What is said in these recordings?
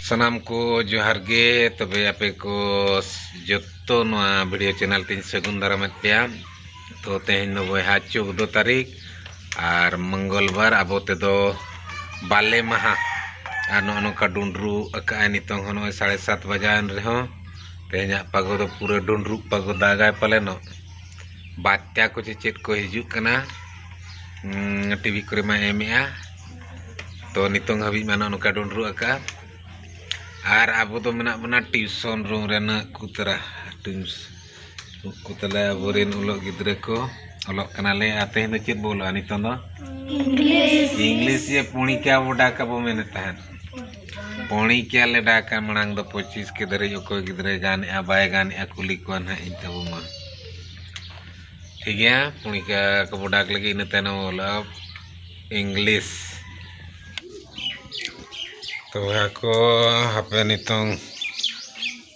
ᱥᱟᱱᱟᱢ ᱠᱚ ᱡᱚᱦᱟᱨ ᱜᱮ ᱛᱚᱵᱮ ᱟᱯᱮ ᱠᱚ ᱡᱚᱛᱚ ᱱᱚᱣᱟ ᱵᱷᱤᱰᱤᱭᱳ ᱪᱮᱱᱮᱞ ᱛᱤᱧ ᱥᱟᱹᱜᱩᱱ ᱫᱟᱨᱟᱢᱮᱫ ᱯᱮᱭᱟ ᱛᱚ ᱛᱮᱦᱮᱧ ᱫᱚ ᱵᱚᱭᱦᱟ ᱪᱳᱫᱫᱳ ᱛᱟᱹᱨᱤᱠᱷ ᱟᱨ ᱢᱚᱝᱜᱚᱞ ᱵᱟᱨ ᱟᱵᱚ ᱛᱮᱫᱚ ᱵᱟᱞᱮ ᱢᱟᱦᱟ ᱟᱨ ᱱᱚᱜᱼᱚ ᱱᱚᱝᱠᱟ ᱰᱩᱸᱰᱨᱩ ᱟᱠᱟᱜᱼᱟᱭ ᱱᱤᱛᱚᱝ ᱦᱚᱸ ᱱᱚᱜᱼᱚᱭ ᱥᱟᱲᱮ ᱥᱟᱛ ᱵᱟᱡᱟᱣᱮᱱ ᱨᱮᱦᱚᱸ ᱛᱮᱦᱮᱧᱟᱜ ᱯᱟᱜᱚ ᱫᱚ ᱯᱩᱨᱟᱹ ᱰᱩᱸᱰᱨᱩᱜ ᱯᱟᱜᱚ ᱫᱟᱜᱟᱭ ᱯᱟᱞᱮᱱᱚᱜ ᱵᱟᱨᱭᱟ ᱠᱚ ᱥᱮ ᱪᱮᱫ ᱠᱚ ᱦᱤᱡᱩᱜ ᱠᱟᱱᱟ ᱴᱤᱵᱷᱤ ᱠᱚᱨᱮ ᱢᱟᱭ ᱮᱢᱮᱜᱼᱟ ᱛᱚ ᱱᱤᱛᱚᱝ ᱦᱟᱹᱵᱤᱡ ᱢᱟ ᱱᱚᱜᱼᱚ ᱱᱚᱝᱠᱟ ᱰᱩᱰᱨᱩᱜ ᱟᱠᱟᱜᱼᱟ ᱟᱨ ᱟᱵᱚ ᱫᱚ ᱢᱮᱱᱟᱜ ᱵᱚᱱᱟ ᱴᱤᱭᱩᱥᱚᱱ ᱨᱩᱢ ᱨᱮ ᱱᱟᱹᱜ ᱠᱚ ᱛᱟᱨᱟ ᱩᱱᱠᱩ ᱛᱟᱞᱮ ᱟᱵᱚ ᱨᱮᱱ ᱚᱞᱚᱜ ᱜᱤᱫᱽᱨᱟᱹ ᱠᱚ ᱚᱞᱚᱜ ᱠᱟᱱᱟᱞᱮ ᱟᱨ ᱛᱮᱦᱮᱧ ᱫᱚ ᱪᱮᱫ ᱵᱚ ᱚᱞᱚᱜᱼᱟ ᱱᱤᱛᱚᱝ ᱫᱚ ᱤᱝᱞᱤᱥ ᱤᱝᱞᱤᱥ ᱡᱮ ᱯᱚᱬᱤᱠᱟ ᱵᱚ ᱰᱟᱠ ᱟᱵᱚ ᱢᱮᱱᱮᱫ ᱛᱟᱦᱮᱸᱫ ᱯᱚᱬᱤᱠᱤᱭᱟ ᱞᱮ ᱰᱟᱠᱟ ᱢᱟᱲᱟᱝ ᱫᱚ ᱯᱚᱸᱪᱤᱥ ᱠᱮ ᱫᱷᱟᱹᱨᱤᱡ ᱚᱠᱚᱭ ᱜᱤᱫᱽᱨᱟᱹᱭ ᱜᱟᱱᱮᱜᱼᱟ ᱵᱟᱭ ᱜᱟᱱᱮᱜᱼᱟ ᱠᱩᱞᱤ ᱠᱚᱣᱟ ᱱᱟᱦᱟᱜ ᱤᱧ ᱛᱟᱵᱚ ᱢᱟ ᱴᱷᱤᱠ ᱜᱮᱭᱟ ᱯᱚᱬᱤᱠᱤᱭᱟ ᱠᱚᱵᱚ ᱰᱟᱠ ᱞᱮᱜᱮ ᱤᱱᱟᱹ ᱛᱟᱭᱱᱚᱢ ᱵᱚ ᱚᱞᱟ ᱤᱝᱞᱤᱥ ᱛᱚᱵᱮ ᱟᱠᱚ ᱦᱟᱯᱮ ᱱᱤᱛᱚᱝ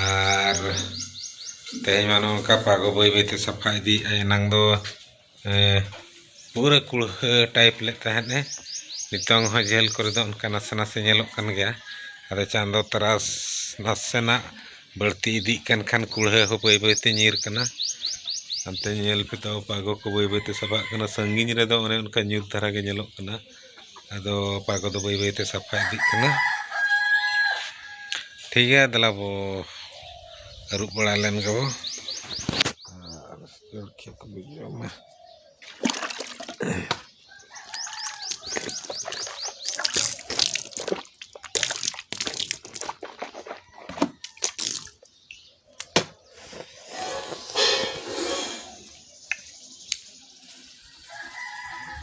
ᱟᱨ ᱛᱮᱦᱮᱧ ᱢᱟ ᱱᱚᱝᱠᱟ ᱯᱟᱜᱚ ᱵᱟᱹᱭ ᱵᱟᱹᱭᱛᱮ ᱥᱟᱯᱷᱟ ᱤᱫᱤᱭᱮᱫᱼᱟ ᱮᱱᱟᱝ ᱫᱚ ᱯᱩᱨᱟᱹ ᱠᱩᱲᱦᱟᱹ ᱴᱟᱭᱤᱯ ᱞᱮᱫ ᱛᱟᱦᱮᱸᱫ ᱮ ᱱᱤᱛᱚᱝ ᱦᱚᱸ ᱡᱷᱟᱹᱞ ᱠᱚᱨᱮ ᱫᱚ ᱚᱱᱠᱟ ᱱᱟᱥᱮ ᱱᱟᱥᱮ ᱧᱮᱞᱚᱜ ᱠᱟᱱ ᱜᱮᱭᱟ ᱟᱫᱚ ᱪᱟᱸᱫᱚ ᱛᱟᱨᱟᱥ ᱱᱟᱥᱮᱱᱟᱜ ᱵᱟᱹᱲᱛᱤ ᱤᱫᱤᱜ ᱠᱟᱱ ᱠᱷᱟᱱ ᱠᱩᱲᱦᱟᱹ ᱦᱚᱸ ᱵᱟᱹᱭ ᱵᱟᱹᱭᱛᱮ ᱧᱤᱨ ᱠᱟᱱᱟ ᱦᱟᱱᱛᱮ ᱧᱮᱞ ᱯᱮ ᱛᱚ ᱯᱟᱜᱚ ᱠᱚ ᱵᱟᱹᱭ ᱵᱟᱹᱭᱛᱮ ᱥᱟᱯᱷᱟᱜ ᱠᱟᱱᱟ ᱥᱟᱺᱜᱤᱧ ᱨᱮᱫᱚ ᱚᱱᱮ ᱚᱱᱠᱟ ᱧᱩᱛ ᱫᱷᱟᱨᱟ ᱜᱮ ᱧᱮᱞᱚᱜ ᱠᱟᱱᱟ ᱟᱫᱚ ᱚᱠᱟ ᱠᱚᱫᱚ ᱵᱟᱹᱭ ᱵᱟᱹᱭᱛᱮ ᱥᱟᱯᱷᱟ ᱤᱫᱤᱜ ᱠᱟᱱᱟ ᱴᱷᱤᱠ ᱜᱮᱭᱟ ᱫᱮᱞᱟ ᱵᱚ ᱟᱹᱨᱩᱵ ᱵᱟᱲᱟ ᱞᱮᱱ ᱜᱮᱵᱚ ᱟᱨ ᱡᱚᱞᱠᱷᱤᱭᱟᱹ ᱠᱚᱵᱚ ᱡᱚᱢᱟ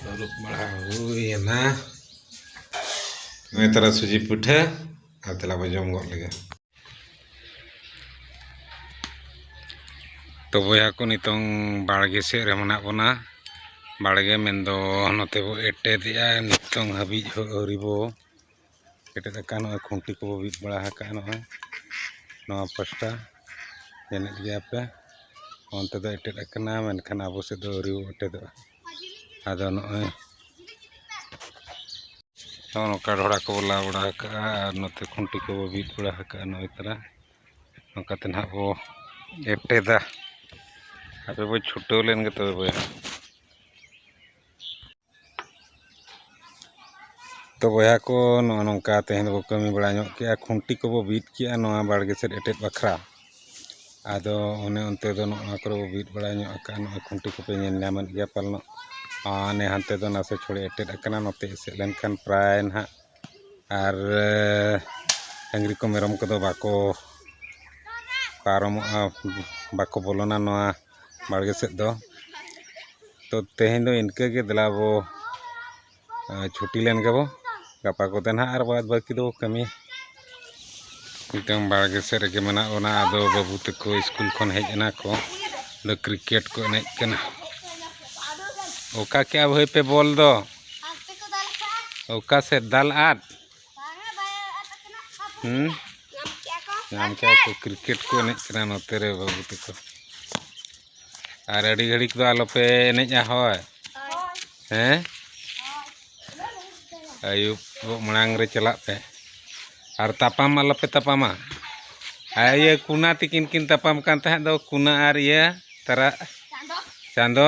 ᱟᱹᱨᱩᱵ ᱵᱟᱲᱟ ᱦᱩᱭᱮᱱᱟ ᱱᱚᱜᱼᱚᱭ ᱛᱟᱨᱟ ᱥᱩᱡᱤ ᱯᱤᱴᱷᱟᱹ ᱟᱨ ᱛᱮᱞᱟ ᱵᱚ ᱡᱚᱢ ᱜᱚᱫ ᱞᱮᱜᱮ ᱛᱚ ᱵᱚᱭᱦᱟ ᱠᱚ ᱱᱤᱛᱚᱝ ᱵᱟᱲᱜᱮ ᱥᱮᱫ ᱨᱮ ᱢᱮᱱᱟᱜ ᱵᱚᱱᱟ ᱵᱟᱲᱜᱮ ᱢᱮᱱᱫᱚ ᱱᱚᱛᱮ ᱵᱚ ᱮᱴᱮᱫᱮᱜᱼᱟ ᱱᱤᱛᱚᱝ ᱦᱟᱹᱵᱤᱡ ᱦᱚᱸ ᱟᱹᱣᱨᱤ ᱵᱚ ᱮᱴᱮᱫ ᱟᱠᱟᱱ ᱱᱚᱜᱼᱚᱭ ᱠᱷᱩᱱᱴᱤ ᱠᱚ ᱵᱤᱫ ᱵᱟᱲᱟ ᱟᱠᱟᱫᱼᱟ ᱱᱚᱜᱼᱚᱭ ᱱᱚᱣᱟ ᱯᱟᱥᱴᱟ ᱮᱱᱮᱡ ᱜᱮᱭᱟ ᱯᱮ ᱚᱱᱛᱮ ᱫᱚ ᱮᱴᱮᱫ ᱟᱠᱟᱱᱟ ᱢᱮᱱᱠᱷᱟᱱ ᱟᱵᱚ ᱥᱮᱫ ᱫᱚ ᱟᱹᱣᱨᱤ ᱮᱴᱮᱫᱚᱜᱼᱟ ᱟᱫᱚ ᱱᱚᱜᱼᱚᱭ ᱱᱚᱜᱼᱚ ᱱᱚᱝᱠᱟ ᱰᱷᱚᱲᱟ ᱠᱚᱵᱚ ᱞᱟ ᱵᱟᱲᱟ ᱟᱠᱟᱫᱼᱟ ᱟᱨ ᱱᱚᱛᱮ ᱠᱷᱩᱱᱴᱤ ᱠᱚᱵᱚ ᱵᱤᱫ ᱵᱟᱲᱟ ᱟᱠᱟᱫᱼᱟ ᱱᱚᱜᱼᱚᱭ ᱛᱟᱨᱟ ᱱᱚᱝᱠᱟᱛᱮ ᱱᱟᱦᱟᱜ ᱵᱚ ᱮᱴᱮᱫᱟ ᱟᱯᱮ ᱵᱚ ᱪᱷᱩᱴᱟᱹᱣ ᱞᱮᱱᱜᱮ ᱛᱚᱵᱮ ᱵᱚᱭᱦᱟ ᱛᱚ ᱵᱚᱭᱦᱟ ᱠᱚ ᱱᱚᱜᱼᱚ ᱱᱚᱝᱠᱟ ᱛᱮᱦᱮᱧ ᱫᱚᱵᱚ ᱠᱟᱹᱢᱤ ᱵᱟᱲᱟ ᱧᱚᱜ ᱠᱮᱫᱼᱟ ᱠᱷᱩᱱᱴᱤ ᱠᱚᱵᱚ ᱵᱤᱫ ᱠᱮᱫᱼᱟ ᱱᱚᱣᱟ ᱵᱟᱲᱜᱮ ᱥᱮᱫ ᱮᱴᱮᱫ ᱵᱟᱠᱷᱨᱟ ᱟᱫᱚ ᱚᱱᱮ ᱚᱱᱛᱮ ᱫᱚ ᱱᱚᱜᱼᱚ ᱱᱚᱣᱟ ᱠᱚᱨᱮ ᱵᱚ ᱵᱤᱫ ᱵᱟᱲᱟ ᱧᱚᱜ ᱟᱠᱟᱫᱼᱟ ᱱᱚᱜᱼᱚᱭ ᱠᱷᱩᱱᱴᱤ ᱠᱚᱯᱮ ᱧᱮᱞ ᱧᱟᱢᱮᱫ ᱜᱮᱭᱟ ᱯᱟᱞᱮᱱᱚᱜ ᱦᱟᱱᱮ ᱦᱟᱱᱛᱮ ᱫᱚ ᱱᱟᱥᱮ ᱛᱷᱚᱲᱮ ᱮᱴᱮᱫ ᱟᱠᱟᱱᱟ ᱱᱚᱛᱮ ᱮᱥᱮᱫ ᱞᱮᱱᱠᱷᱟᱱ ᱯᱨᱟᱭ ᱱᱟᱜ ᱟᱨ ᱰᱟᱹᱝᱨᱤ ᱠᱚ ᱢᱮᱨᱚᱢ ᱠᱚᱫᱚ ᱵᱟᱠᱚ ᱯᱟᱨᱚᱢᱚᱜᱼᱟ ᱵᱟᱠᱚ ᱵᱚᱞᱚᱱᱟ ᱱᱚᱣᱟ ᱵᱟᱲᱜᱮ ᱥᱮᱫ ᱫᱚ ᱛᱚ ᱛᱮᱦᱮᱧ ᱫᱚ ᱤᱱᱠᱟᱹ ᱜᱮ ᱫᱮᱞᱟ ᱵᱚ ᱪᱷᱩᱴᱤ ᱞᱮᱱ ᱜᱮᱵᱚ ᱜᱟᱯᱟ ᱠᱚᱛᱮ ᱱᱟᱦᱟᱜ ᱟᱨ ᱵᱟᱫᱽ ᱵᱟᱹᱠᱤ ᱫᱚ ᱠᱟᱹᱢᱤ ᱢᱤᱫᱴᱟᱝ ᱵᱟᱲᱜᱮ ᱥᱮᱫ ᱨᱮᱜᱮ ᱢᱮᱱᱟᱜ ᱵᱚᱱᱟ ᱟᱫᱚ ᱵᱟᱹᱵᱩ ᱛᱟᱠᱚ ᱥᱠᱩᱞ ᱠᱷᱚᱱ ᱦᱮᱡ ᱮᱱᱟ ᱠᱚ ᱟᱫᱚ ᱠᱨᱤᱠᱮᱴ ᱠᱚ ᱮᱱᱮᱡ ᱠᱟᱱᱟ ᱚᱠᱟ ᱠᱮᱜᱼᱟ ᱵᱷᱟᱹᱭ ᱯᱮ ᱵᱚᱞ ᱫᱚ ᱚᱠᱟ ᱥᱮᱫ ᱫᱟᱞ ᱟᱫ ᱦᱮᱸ ᱧᱟᱢ ᱠᱮᱜᱼᱟ ᱠᱚ ᱠᱨᱤᱠᱮᱴ ᱠᱚ ᱮᱱᱮᱡ ᱠᱟᱱᱟ ᱱᱚᱛᱮ ᱨᱮ ᱵᱟᱹᱵᱩ ᱛᱟᱠᱚ ᱟᱨ ᱟᱹᱰᱤ ᱜᱷᱟᱹᱲᱤᱠ ᱫᱚ ᱟᱞᱚᱯᱮ ᱮᱱᱮᱡᱼᱟ ᱦᱳᱭ ᱦᱮᱸ ᱟᱹᱭᱩᱵ ᱢᱟᱲᱟᱝ ᱨᱮ ᱪᱟᱞᱟᱜ ᱯᱮ ᱟᱨ ᱛᱟᱯᱟᱢ ᱟᱞᱚᱯᱮ ᱛᱟᱯᱟᱢᱟ ᱟᱨ ᱤᱭᱟᱹ ᱠᱩᱱᱟ ᱛᱤᱠᱤᱱ ᱠᱤᱱ ᱛᱟᱯᱟᱢ ᱠᱟᱱ ᱛᱟᱦᱮᱸᱫ ᱫᱚ ᱠᱩᱱᱟ ᱟᱨ ᱤᱭᱟᱹ ᱛᱟᱨᱟ ᱪᱟᱸᱫᱚ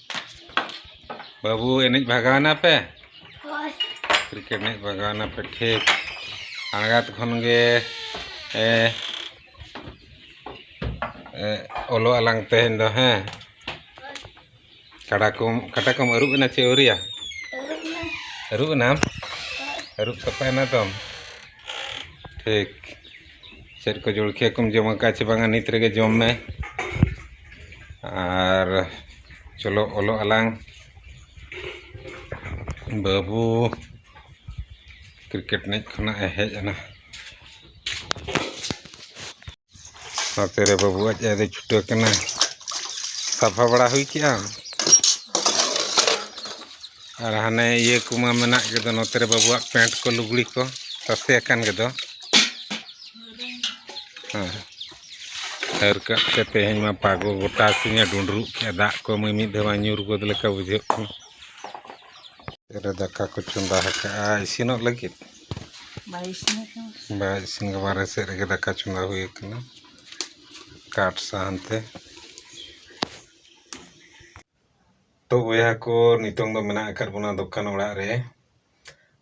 ᱵᱟᱹᱵᱩ ᱮᱱᱮᱡ ᱵᱷᱟᱜᱟᱣ ᱮᱱᱟᱯᱮ ᱠᱨᱤᱠᱮᱴ ᱮᱱᱮᱡ ᱵᱷᱟᱜᱟᱣ ᱮᱱᱟᱯᱮ ᱴᱷᱤᱠ ᱟᱬᱜᱟᱛ ᱠᱷᱚᱱ ᱜᱮ ᱚᱞᱚᱜ ᱟᱞᱟᱝ ᱛᱮᱦᱮᱧ ᱫᱚ ᱦᱮᱸ ᱠᱟᱰᱟ ᱠᱚᱢ ᱠᱟᱴᱟ ᱠᱚᱢ ᱟᱹᱨᱩᱵ ᱮᱱᱟ ᱪᱮ ᱟᱹᱣᱨᱤᱭᱟ ᱟᱹᱨᱩᱵ ᱮᱱᱟᱢ ᱟᱹᱨᱩᱵ ᱥᱟᱯᱷᱟᱭᱮᱱᱟ ᱛᱚᱢ ᱴᱷᱤᱠ ᱪᱮᱫ ᱠᱚ ᱡᱚᱞᱠᱷᱤᱭᱟᱹ ᱠᱚᱢ ᱡᱚᱢ ᱟᱠᱟᱫᱼᱟ ᱪᱮ ᱵᱟᱝᱟ ᱱᱤᱛ ᱨᱮᱜᱮ ᱡᱚᱢ ᱢᱮ ᱟᱨ ᱪᱚᱞᱚ ᱚᱞᱚᱜ ᱟᱞᱟᱝ ᱵᱟᱹᱵᱩ ᱠᱨᱤᱠᱮᱴ ᱮᱱᱮᱡ ᱠᱷᱚᱱᱟᱜ ᱮ ᱦᱮᱡ ᱮᱱᱟ ᱱᱚᱛᱮ ᱨᱮ ᱵᱟᱹᱵᱩ ᱟᱡ ᱟᱡ ᱫᱚ ᱪᱷᱩᱴᱟᱹᱣ ᱠᱟᱱᱟ ᱥᱟᱯᱷᱟ ᱵᱟᱲᱟ ᱦᱩᱭ ᱠᱮᱜᱼᱟᱢ ᱟᱨ ᱦᱟᱱᱮ ᱤᱭᱟᱹ ᱠᱚᱢᱟ ᱢᱮᱱᱟᱜ ᱜᱮᱫᱚ ᱱᱚᱛᱮ ᱨᱮ ᱵᱟᱹᱵᱩᱣᱟᱜ ᱯᱮᱱᱴ ᱠᱚ ᱞᱩᱜᱽᱲᱤ ᱠᱚ ᱛᱟᱥᱮ ᱟᱠᱟᱱ ᱜᱮᱫᱚ ᱦᱮᱸ ᱦᱟᱹᱨ ᱠᱟᱜ ᱛᱮ ᱛᱮᱦᱮᱧ ᱢᱟ ᱯᱟᱜᱚ ᱜᱚᱴᱟ ᱥᱤᱧᱮ ᱰᱩᱸᱰᱨᱩᱜ ᱠᱮᱫᱼᱟ ᱫᱟᱜ ᱠᱚ ᱢᱤᱢᱤᱫ ᱫᱷᱟᱣ ᱢᱟ ᱧᱩᱨ ᱜᱚᱫ ᱞᱮᱠᱟ ᱵᱩᱡᱷᱟᱹᱜ ᱠᱟᱱᱟ ᱨᱮ ᱫᱟᱠᱟ ᱠᱚ ᱪᱚᱸᱫᱟ ᱟᱠᱟᱜᱼᱟ ᱤᱥᱤᱱᱚᱜ ᱞᱟᱹᱜᱤᱫ ᱵᱟᱭ ᱤᱥᱤᱱ ᱟᱠᱟᱱᱟ ᱵᱟᱭ ᱤᱥᱤᱱ ᱟᱠᱟᱱᱟ ᱵᱟᱨᱦᱮ ᱥᱮᱫ ᱨᱮᱜᱮ ᱫᱟᱠᱟ ᱪᱚᱸᱫᱟ ᱦᱩᱭ ᱟᱠᱟᱱᱟ ᱠᱟᱴ ᱥᱟᱦᱟᱱ ᱛᱮ ᱛᱚ ᱵᱚᱭᱦᱟ ᱠᱚ ᱱᱤᱛᱚᱝ ᱫᱚ ᱢᱮᱱᱟᱜ ᱟᱠᱟᱫ ᱵᱚᱱᱟ ᱫᱚᱠᱟᱱ ᱚᱲᱟᱜ ᱨᱮ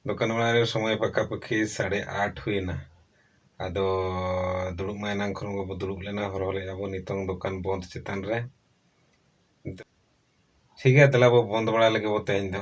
ᱫᱚᱠᱟᱱ ᱚᱲᱟᱜ ᱨᱮ ᱥᱚᱢᱚᱭ ᱯᱟᱠᱟ ᱯᱟᱹᱠᱷᱤ ᱥᱟᱲᱮ ᱟᱴ ᱦᱩᱭᱮᱱᱟ ᱟᱫᱚ ᱫᱩᱲᱩᱵ ᱢᱟ ᱮᱱᱟᱝ ᱠᱷᱚᱱ ᱜᱮᱵᱚ ᱫᱩᱲᱩᱵ ᱞᱮᱱᱟ ᱦᱚᱨᱦᱚ ᱞᱮᱫᱼᱟ ᱵᱚ ᱱᱤᱛᱚᱝ ᱫᱚᱠᱟᱱ ᱵᱚᱸᱫᱽ ᱪᱮᱛᱟᱱ ᱨᱮ ᱴᱷᱤᱠ ᱜᱮᱭᱟ ᱫᱮᱞᱟ ᱵᱚ ᱵᱚᱸᱫᱽ ᱵᱟᱲᱟ ᱞᱮᱜᱮ ᱵᱚ ᱛᱮᱦᱮᱧ ᱫᱚ